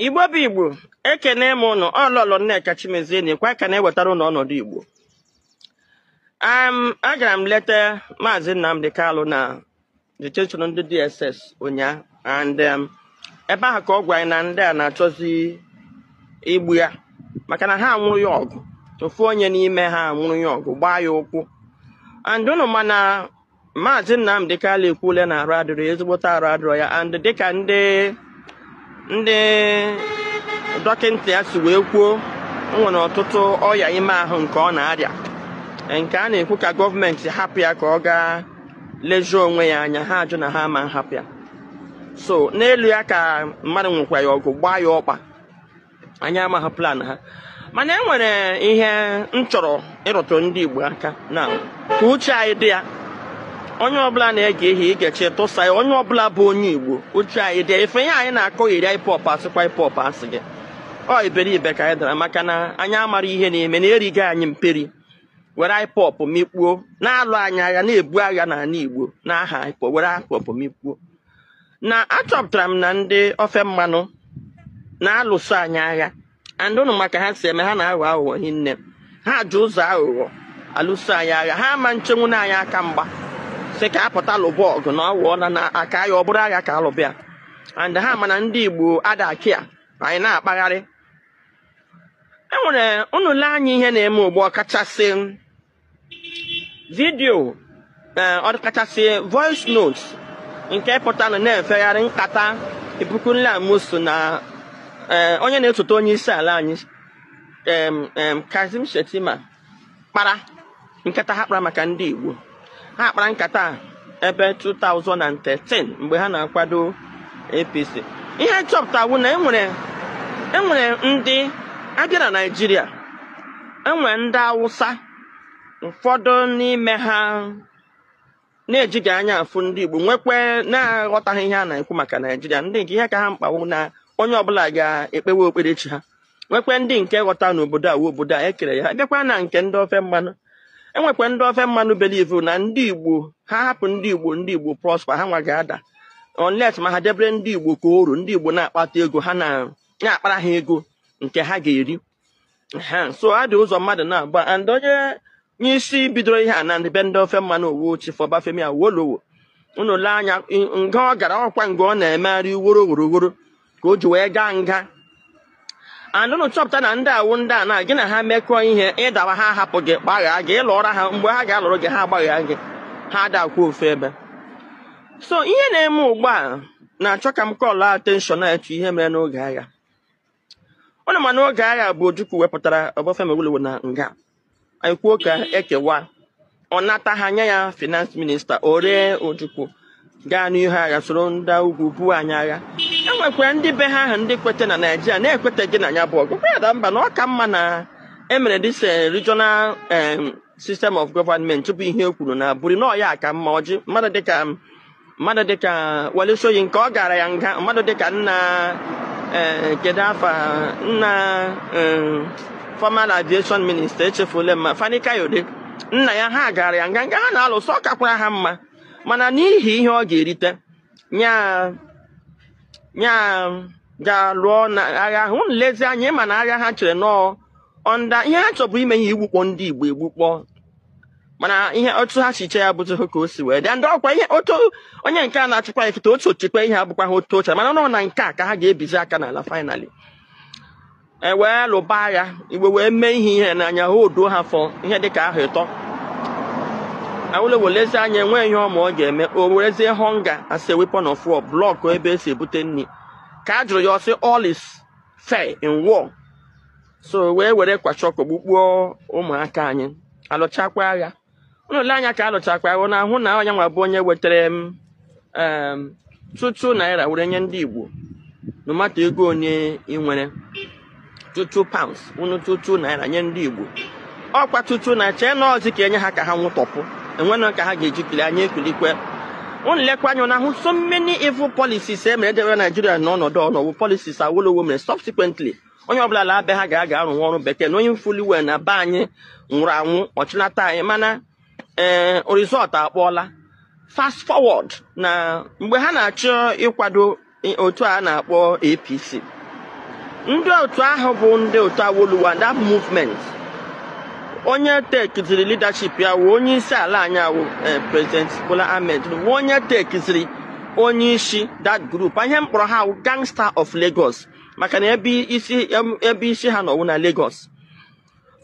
igbo bụ igbo ekene m ụnụ ọ lọlọ nneka chimezie na-ekwu ka na-ewetara ụnụ ọnọdụ igbo agara m leta maazị nnamdi kalụ na detention ndị dss ụnyaa and um, ebe ahụ ka ọ gwa anyị na ndị a na-achọzi igbu ya maka na ha anwụrụ ya ọgụ ofu onye n'ime ha anwụrụ ya ọgụ gbaa ya ụkwụ and ụnụ ma na Maazị Nnamdi Kanu ekwuole na arụ adịrọ ya ezigbote arụ adịrọ ya and dịka ndị ndị dọkịta ya si wee kwuo o nwere ọtụtụ ọya ime ahụ nke ọ na-arịa nke a na-ekwu ka gọọmenti hapụ ya ka ọ gaa lezie onwe ya anya ha ajụ na ha ama nhapụ ya so n'elu ya ka mmadụ nwekwa ya ọgụ gbaa ya ọkpa anyị amaghị plan ha mana e nwere ihe m chọrọ ịrụtụ ndị Igbo aka na ka uche anyị dị ya onye ọbụla na-ege ihe i gechaa tụsaa ya onye ọbụla bụ onye Igbo uche anyị dị ya ife ihe anyị na-akọ iri IPOB asịkwa IPOB asị gị ọ iberibe ka anyị dara maka na anyị amara ihe na-eme na erigo anyị mperi were IPOB mikpuo na-alụ anyị agha na-ebu agha n'ala Igbo n'aha IPOB were IPOB mikpuo na achọpụtara m na ndị ofe mmanụ na-alụso anyị agha and ụnụ ma ka ha si eme ha na-aghọ aghụghọ hinne ha ji ụzọ aghụghọ alụso anyị agha ha ama nchenwu na anyị aka mgba sị ka a pụta lụba ọgụ na ọwụọ na na aka ya ọ bụrụ agha ka a lụba ya and ha ma na ndị igbo adaki a anyị na-akpagharị enwere ụnụ lee anya ihe na-eme ugbu ọ kachasị vidiyo eh, ọkachasị voice note nke pụtara na-efegharị nkata Ibikunle Amosun na eh, onye na-esote onye isi ala anyị Kashim Shettima kpara nkata ha kpara maka ndị Igbo ha kpara nkata ebe 2013 mgbe ha na-akwado APC ihe chọpụta wụ na enwere enwere ndị a bịa na Naịjirịa enwere ndị Awụsa ụfọdụ n'ime ha na-ejighị anya afụ ndị Igbo nwekwa na-aghọtaghị ihe a na-ekwu maka Naịjirịa ndị nke ihe ka ha mkpa wụ na onye ọbụla ga-ekpewe okperechi ha nwekwe ndị nke ghọta na obodo a obodo a ekere ya bịakwa na nke ndị ofe mmanụ enwekwa ndị ofe mmanụ believe na ndị igbo ha hapụ ndị igbo ndị igbo prosper ha nwa ga-ada unless ma ha debere ndị igbo ka oru ndị igbo na-akpata ego ha na-akpara ha ego nke ha ga-eri so ha dị ụzọ mmadụ naabọ and onye isi bidoro ihe a na ndị be ndị ofe mmanụ ọ wụ chief obafemi awolowo ụnụ lee anya nga ọ gara ọkwa nga ọ na-emegharị woro woro woro ka o ji wee gaa nga and unu chọpụta na ndị a wụ ndị a na gị na ha mekọọ ihe ị dawa ha ahapụ gị gbaghaa gị ị lụọra ha mgbe ha ga-alụrụ gị ha agbaghaa gị ha adakwa ofu ebe so ihe na-eme ugbu a na-achọ ka m kọlụ attention n'etu ihe mere n'oge agha ụnụ ma n'oge agha bụ Ojukwu wepụtara Obafemi Awolowo na nga anyị kwuo ka e kewa ọ nata ha nye ya finance minister o ree ojukwu gaa n'ihu agha soro ndị ugwu buo anyị agha e nwekwara ndị be ha ahụ ndị kweta na Naijiria na-ekweteghị na ya bụ ọgụ kwada mba na ọ ka mma na e mere this eh, regional eh, system of government bụ ihe e kwuru na Aburi na ọ ya ka mma ọjị mmadụ dịka mmadụ dịka Wole Soyinka ọ gara ya nga mmadụ dịka nna eh, kedu afa nna eh, former aviation minister echefule m ma Fani Kayode nna ya ha gara ya nga nga ha na-alụsọ ọ kakwara ha mma mana n'ihi ihe ọ ga-erite nya nya gaa lụọ na agha ahụ nlezi anya ị ma na agha ha chere nọọ ọnda ihe ha chọbu ime ihe igbukpọ ndị Igbo egbukpọ mana ihe otu ha si che ya abụzi ka o si wee dị ndị ọkwa ihe otu onye nke a na-achịkwa ya kịta otu o chekwa ihe abụkwa ha otu o che mana na ọ na nke a ka ha ga-ebizi aka n'ala finally e wee lụba agha Igbo wee mee ihe ihe n'anya ha oduo ha fọ ihe dị ka ahọ ịtọ Awolowo lezi anya enweghị ihe ọma ọ ga-eme o werezie hunger as a weapon of war blọkụ ebe e si ebute nri ka a jụrụ ya ọ sị all is fair in war so wee were kwashiorkor gbukpuo ụmụaka anyị alụchakwa agha ụnụ lee anya ka alụchakwa agha na ahụ na onye nwa bụ onye wetara m em, two two naira were nye ndị Igbo no matter ego onye ị nwere two two pounds unu two two naira nye ndị Igbo ọkwa tutu na chee na ọzi ka e nye ha ka ha nwụtọpụ enwenụ ka ha ga-eji kuli anyị ekulikwe unu lekwa anya na ahụ so many evil policies e mere edebe Naijiria n'ọnọdụ ọ nọ wụ policies Awolowo mere subsequently onye ọbụla laa be ha ga-aga arụ nwa ọrụ bekee na onye mfuli wee na be anyị nwụrụ anwụ ọchịnata anyị mana ee eh, result akpọọla fast forward na mgbe ha na-achọ ịkwado otu a na-akpọ APC ndị otu ahụ bụ ndị otu Awolowo that movement onye tekiziri leadership ya wụ onye isi ala anyị a wụ eh, president Bola Ahmed wụ onye tekiziri onye isi that group ihe m kpọrọ ha wụ gangster of Lagos maka na ebe isi ebe isi ha nọ wụ na Lagos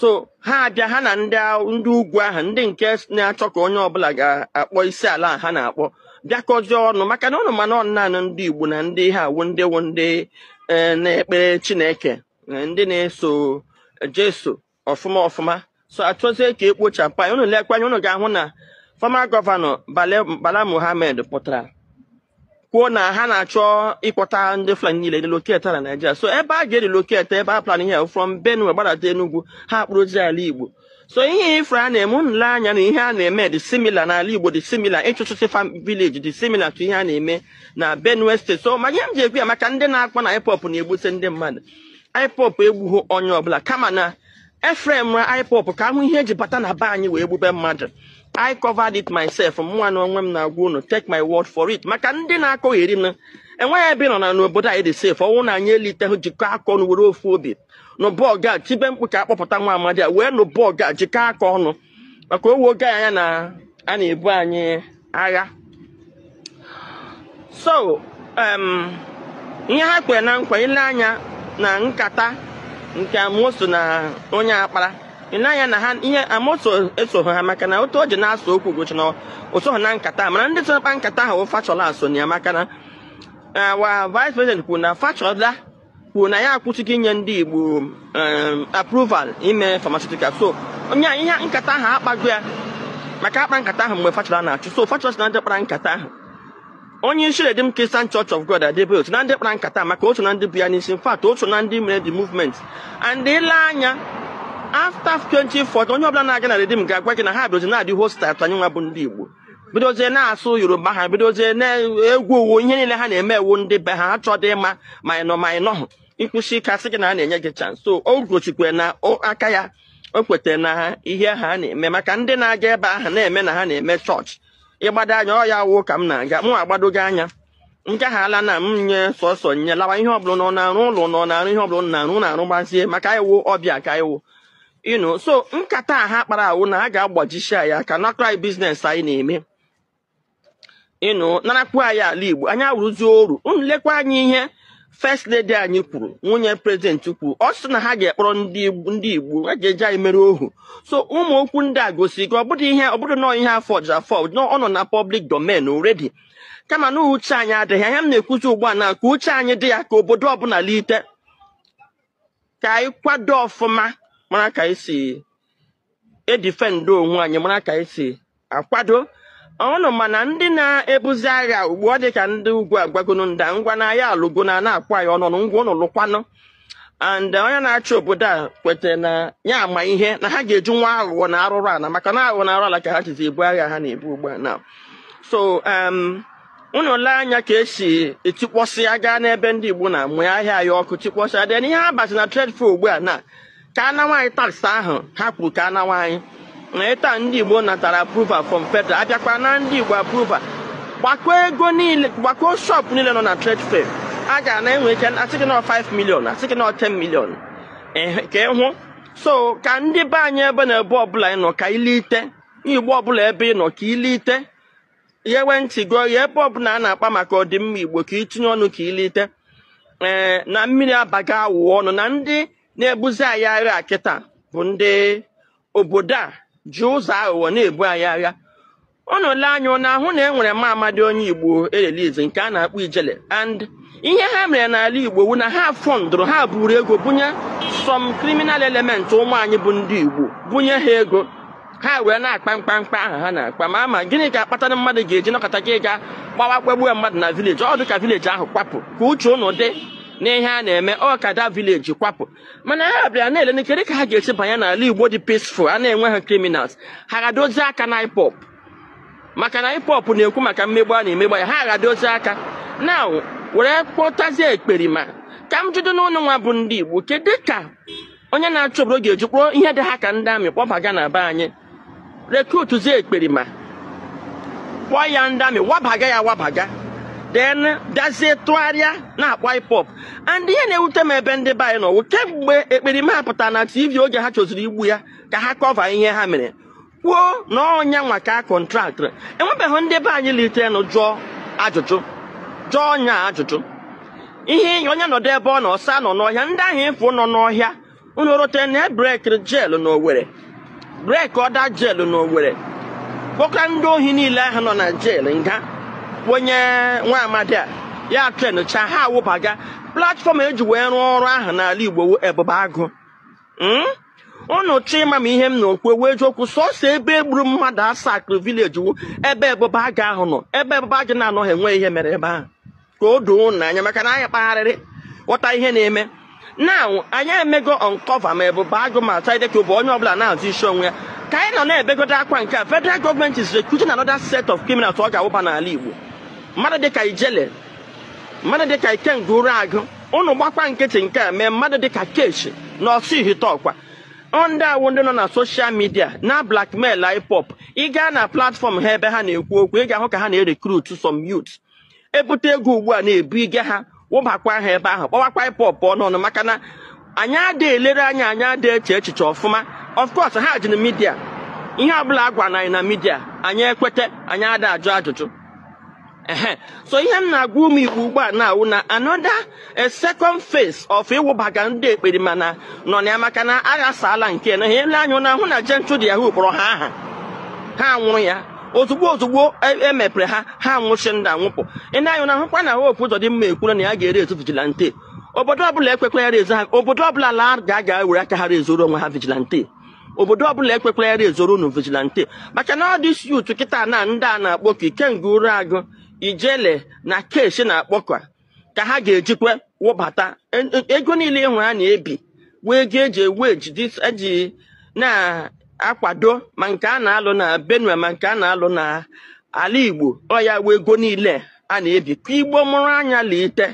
so ha abịa ha na ndị ndị ugwu ahụ ndị nke na-achọ ka onye ọbụla ga-akpọ isi ala ha na-akpọ bịakọzie ọnụ maka na ụnụ ma na ọ naanị ndị Igbo na ndị ha wụ ndị wụ ndị e, na-ekpere Chineke e, ndị na-eso Jesu ọfụma ọfụma so achọzie ka ekpochapụ anyị unu lekwa anya unu ga-ahụ na former gọvanọ Bala Mohammed pụtara kwuo na ha na-achọ ịkpọta ndị Fulani niile relocate na Naịjirịa so ebe a ga-erelocate ebe a plan ihe from Benue gbadata Enugu ha kpụrụzi ala Igbo so ihe ifre a na-eme ile anya na ihe a na-eme dị similar n'ala Igbo dị similar ịchụchụsị farm village dị similar to ihe a na-eme na Benue steeti so ma ihe m ji ekwu ya maka ndị na-akpọ na IPOB na-egbusi ndị mmadụ IPOB egbughị onye ọbụla kama na e framera IPOB ka a hụ ihe e ji bata na be anyị wee gbube mmadụ I covered it myself mụnwa na onwe m na-agwa unu take my word for it maka ndị na-akọgheri m enweghị ebe nọ na n'obodo anyị dị safe ọ wụ na anyị eliteghị jikọ aka ọnụ were ofu obi nụba ọgụ a tibe mkpu ka a kpọpụta nwa amadi a wee nụba ọgụ a jikọ aka ọnụ maka o wego anya na a na-ebu anyị agha so ihe ha kwere na nkwa ile anya na nkata nke Amosun na onye a kpara ile anya na ha ihe Amosun esoghị ha maka na otu o ji na-asụ okwu gosi na o soghị na nkata mana ndị so nkata ahụ Fashola so na ya maka na eh, nwa vice president kwuru na Fashola kwuru na ya akwụsịgo inye ndị Igbo um, approval ime pharmaceutical so onye ihe nkata ahụ akpago ya maka a kpa nkata ahụ mgbe Fashola na-achị so Fashola na ndị kpara nkata ahụ onye isi Redeemed Christian Church of God Adeboye so na ndị kpara nkata maka o so na ndị bu ya n'isi in fact o so na ndị mere the movement and ile anya after 2014 onye ọbụla na-aga na Redeemed ga-agwa gị na ha bịazi na-adị hostile to anyị nwa bụ ndị Igbo bidozie na-asụ Yoruba ha bidozie na-egwu owu ihe niile ha na-eme awụ ndị be ha achọdị ịma ma ị nọ ma ị nọhụ i kwusi ike a sị gị na a na-enye gị chance so o gosikwe na aka ya o kwetara na ha ihe ha na-eme maka ndị na-aga ebe ahụ na-eme na ha na-eme chọọchị ịgbado anya ọ ya wụ ka m na-aga mụ agbadogo anya nke ha ala na m nye sọsọ nye lawa ihe ọbụla nọ na-arụ ụlọ nọ na-arụ ihe ọbụla na-arụ na-arụ gbazie maka ị wụ ọbịa ka ị wụ you know so nkata a ha kpara awụ na a ga-agbajisi anyị aka nakọrọ anyị business anyị na-eme you know narakwu anyị ala Igbo anyị awụrụzi oru unu lekwa anya ihe first lady anyị kwuru nwunye prezidenti kwuru ọ sị na ha ga-ekpọrọ ndị Igbo ha ga-eji anyị mere ohu so ụmụ okwu ndị a gosiri gị ọ bụdụ ihe ọ bụdụ nọọ ihe a fọji afọji ọ nọ na public domain already kama na uche anyị adịghị ya m na-ekwuzi ugbu a na ka uche anyị dị ya ka obodo ọbụla lite ka anyị kwado ọfụma mara ka anyị si edifendụ onwe anyị mara ka anyị si akwado ọnụ mana ndị na-ebuzi agha ugbu a ọ dị ka ndị ugwu agwagonu ndị a ngwa na ya alụgo na na-akwa ya ọnụ ngwa unu lụkwanụ and onye na-achị obodo a kwetara na ya ama ihe na ha ga-eji nwa aghụghọ na arụrụ ala maka na aghụghọ na arụ ala ka ha jizi ebu agha ha na-ebu ugbu a na so um, unu lee anya ka esi etikpọsị aga n'ebe ndị Igbo na mụọ ahịa ya ọkụ tikpọsịa dị n'ihe ha bazi na trade fair ugbu a na ka a nawa anyị taks ahụ ha kwuru ka a nawa anyị na ịta ndị Igbo natara approval from federal abịakwa na ndị Igbo approval gbakọ ego niile gbakọ shop niile nọ na trade fair a ga na enwe ike asị gị na 5 million asị gị na 10 million ka ịhụ so ka ndị be anyị ebe na ebe ọbụla ị nọ ka ilite igbo ọbụla ebe ị nọ ka ilite ghewe ntị gị oghe ebe ọbụla a na-akpa maka ọdịmma igbo ka itinye ọnụ ka ilite ee eh, na mmiri abaga awọ ọnụ na ndị na-ebuzi anyị agha kịta bụ ndị obodo a ji ụzọ aghụghọ na-ebu anyị agha unu lee anya na-ahụ na e nwere nwa amadi onye igbo erelize nke a na-akpọ ijele and ihe ha mere n'ala Igbo wu na ha fọndụrụ ha buru ego bunye some criminal element ụmụ anyị bụ ndị Igbo bunye ha ego ha wee na-akpa mkpamkpa ahụ ha na-akpa ma ama gịnị ga-akpatanụ mmadụ ga-eji nọkata gị ga gbawa gbagbuo mmadụ na vileji ọ dị ka vileji ahụ kwapụ ka uche ụnụ dị n'ihe a na-eme ọ ka da vileji kwapụ mana ha bịara na-ele na kedu ka ha ga-esi banye n'ala Igbo dị peaceful a na-enweghị criminals ha aghadozi aka na IPOB maka na IPOB na-ekwu maka mmegbu a na-emegbu ya ha aghadozi aka na were kpọtazie ekperima ka m jụdụ unu nwa bụ ndị Igbo kedu ka onye na-achị obodo ga-eji kpọrọ ihe dị ha ka ndị amị kpọbaga na be anyị rekrutzie ekperima kpọọ ya ndị amị wabaga ya wabaga then bịazie tụgharịa na-akpọ IPOB and ihe na-ewute m ebe ndị be anyị nọ wụ kemgbe ekperima a pụtara na TV oge ha chọziri igbu ya ka ha kọva ihe ha mere kwuo na ọ nya nwa ka a kọntraktịrị enwebeghị ndị be anyị litenụ jụọ ajụjụ jụọ nya ajụjụ ihe onye nọdụ ebe ọ nọ ọ sị ha nọ n'ọhịa ndị ahụ ịfụ nọ n'ọhịa unu rote na e brekiri jeelụ na Owerri breki ọda jeelụ na Owerri kpọkọrọ ndị ohi niile ahụ nọ na jeelụ nga ahụ nye nwa amadi a ya trenụcha ha awụbaga platfọm eji wee rụọ ọrụ ahụ n'ala Igbo wu Ebube Agụ Hmm? ụnụ chọọ ịma ma ihe m na-ekwu wu eziokwu sọsọ ebe egburu mmadụ asakịrị vileji wu ebe Ebube Agụ ahụ nọ ebe Ebube Agụ na-anọghị enweghị ihe mere ebe ahụ ka o doo ụnụ anya maka na anyị kpagharịrị ghọta ihe na-eme na anyị emego ọnkọva ma Ebube Agụ ma Asari Dokubo onye ọbụla na-azọ isi onwe ya ka anyị nọ na-ebegodo akwa nke a federal gọọmenti is recruiting another set of criminals ọ ga-awụba n'ala Igbo mmadụ dịka ijele mmadụ dịka Ikenga Uruagu ụnụ gbakwa nkịtị nke a mee mmadụ dịka Keshi na Ọsụ Ihiteukwa ndị a wụ ndị nọ na soshal midia na blackmail IPOB ị gaa na platfọm ha ebe ha na-ekwu okwu ị ga-ahụ ka ha na-erekrut some youth ebute ego ugbu a na-ebu ige ha wụbakwa ha ebe ahụ kpọwakwa IPOB ọnụnụ maka na anyị ada elere anya anyị ada eche echiche ọfụma of course ha ji na midia ihe ọbụla a gwara anyị na midia anyị ekweta anyị ada ajụ ajụjụ ehe so ihe m na-agwa ụmụ igbo ugbu a na-awụ na another second phase of ịwụbaga ndị ekperima na nọ na ya maka na aghasaala nke na ha ele anya na-ahụ na Gentle de Yahoo kpọrọ ha aha ha nwụrụ ya ozugbo ozugbo emepere e ha ha nwụchi ndị anwụpụ ị le anya na-ahụkwa na Hope Uzodimma ekwuru na ya ga-erezi vigilante obodo ọbụla ekwekwala ya rezo ha obodo ọbụla laa gaa were aka ha rezuoro onwe ha vigilante obodo ọbụla ekwekwala ya rezuoro unu vigilante maka na ọ ndị isi otu kịta na ndị a na-akpọ ka Ikenga Uruagu Ijele na Keshi na-akpọkwa ka ha ga-ejikwa wụbata E- e- ego niile ị hụ a na-ebi wụ ego eji ewe ejidi eji na-akwado ma nke a na-alụ na benue ma nke a na-alụ na ala igbo ọ ya wụ ego niile a na-ebi ka igbo mụrụ anya lite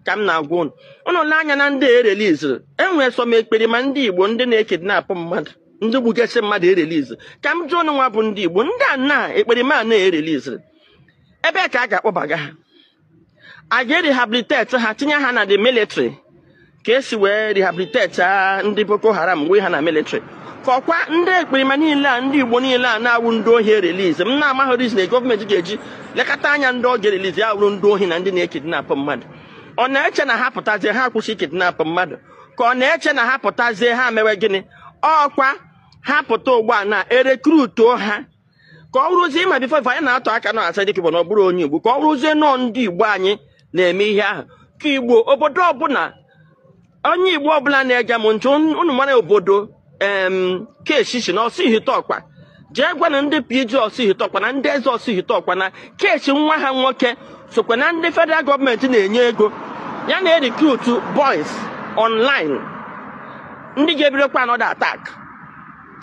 ka m na-agwa unu unu le anya na ndị ereliziri enwere some ekperima ndị igbo ndị na-ekidnapụ mmadụ ndị gbugasị mmadụ erelizi ka m jụọ unu nwa bụ ndị igbo ndị a na ekperima a na-ereliziri ebe ka a ga-akpọbaga ha a ga-erehabiliteti ha tinye ha na the military ka esi wee rehabiliteti ndị Boko Haram wee ha na militri ka ọkwa ndị ekperima niile a ndị Igbo niile a na-awụ ndị ohi erelizi m na-amaghị reason gọọmenti ga-eji lekata anya ndị ọ ga-erelizi ya wụrụ ndị ohi na ndị na-ekidnapụ mmadụ ọ na-eche na ha pụtazie ha kwụsị ịkidnapụ mmadụ ka ọ na-eche na ha pụtazie ha mewe gịnị ọkwa ha pụta ugbu a na erekrutuo ha ka ọ wụrụzie ma before anyị na-atụ aka na Asari Dokubo na ọ bụrọ onye igbo ka ọ wụrụzie nọọ ndị igbo anyị na-eme ihe ahụ ka igbo obodo ọbụla onye igbo ọbụla na-ege m ntị unu mara obodo em Keshi shi na Orsuihiteukwa jee gwanụ ndị PG Orsuihiteukwa na ndị eze Orsuihiteukwa na Keshi nwa ha nwoke sokwa na ndị federal gọọmenti na-enye ego ya na-erikrutu boys online ndị ga-ebidokwa another attack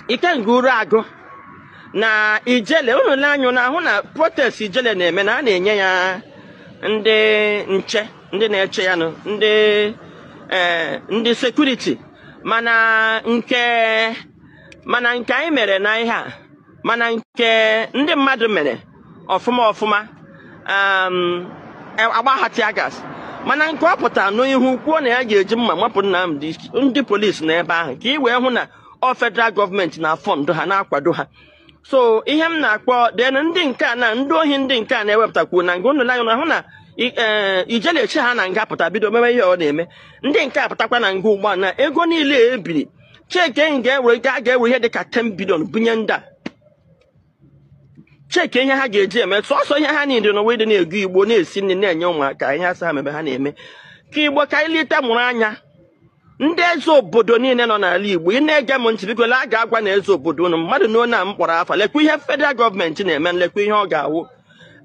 Ikenga Uruagu na ijele unu le anya na-ahụ na protest ijele na-eme na a na-enye ya ndị nche ndị na-eche ya nụ ndị ee eh, ndị sekuriti mana nke mana nke anyị mere na ihe a mana nke ndị mmadụ mere ọfụma ọfụma um, e, a gbaa ha tear gas mana nke ọ pụtara n'ihu kwuo na ya ga-eji mma mapụ Nnamdi ndị polisi na ebe ahụ ka ị wee hụ na ọ federal gọọmenti na-afọndụ ha na-akwado ha so ihe m na-akpọ den ndị nke a na ndị ohi ndị nke a na-ewepụtakwu na nga unu le anya na-ahụ na eh, Ijele eche ha na nga pụta bido mewe ihe ọ na-eme ndị nke a pụtakwa na nga ugbu a na ego niile ebiri cheke ga-ewe ga-ewe ihe dị ka 10 bilion bunye ndị a cheki ihe ha ga-eji eme sọsọ ihe ha niile n'ụwa ịdị na-ego Igbo na-esi nri na-enye ụmụaka ihe asa ha mebe ha na-eme ka Igbo ka anyị lite mụrụ anya ndị eze obodo niile nọ n'ala Igbo ị na-ege m ntị biko gaa gwanụ eze obodo unu mmadụ na onye a m kpọrọ afa lekwa ihe federal gọọmenti na-eme lekwa ihe ọ ga-awụ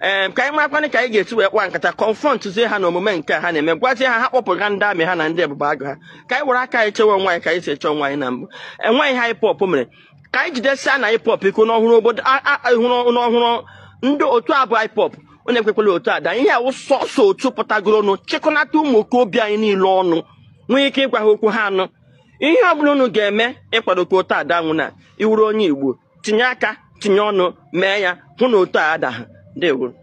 ee ka anyị makwanị ka anyị ga-esi wee kpaa nkata confrontụzie ha na omume nke ha na-eme gwazie ha ha kpọpụga ndị army ha na ndị Ebube Agụ ha ka anyị were aka anyị chewe onwe anyị ka anyị si eche onwe anyị na mbụ enweghị ihe IPOB mere ka anyị jidesianụ IPOB ike n'ọhụrụ obodo a- a- a- hụrụ n'ọhụrụ ndị otu a bụ IPOB onye ekwekwala otu a daa ihe a wụ sọsọ otu pụtagoronụ chịkọnata ụmụ okorobịa anyị niile ọnụ nwee ike ịgwa ha okwu ha anụ ihe ọ bụla unu ga-eme ịkwado ka otu a da nwụ na ị wụrụ onye Igbo tinye aka tinye ọnụ mee ya hụ na otu a adaghị ndewo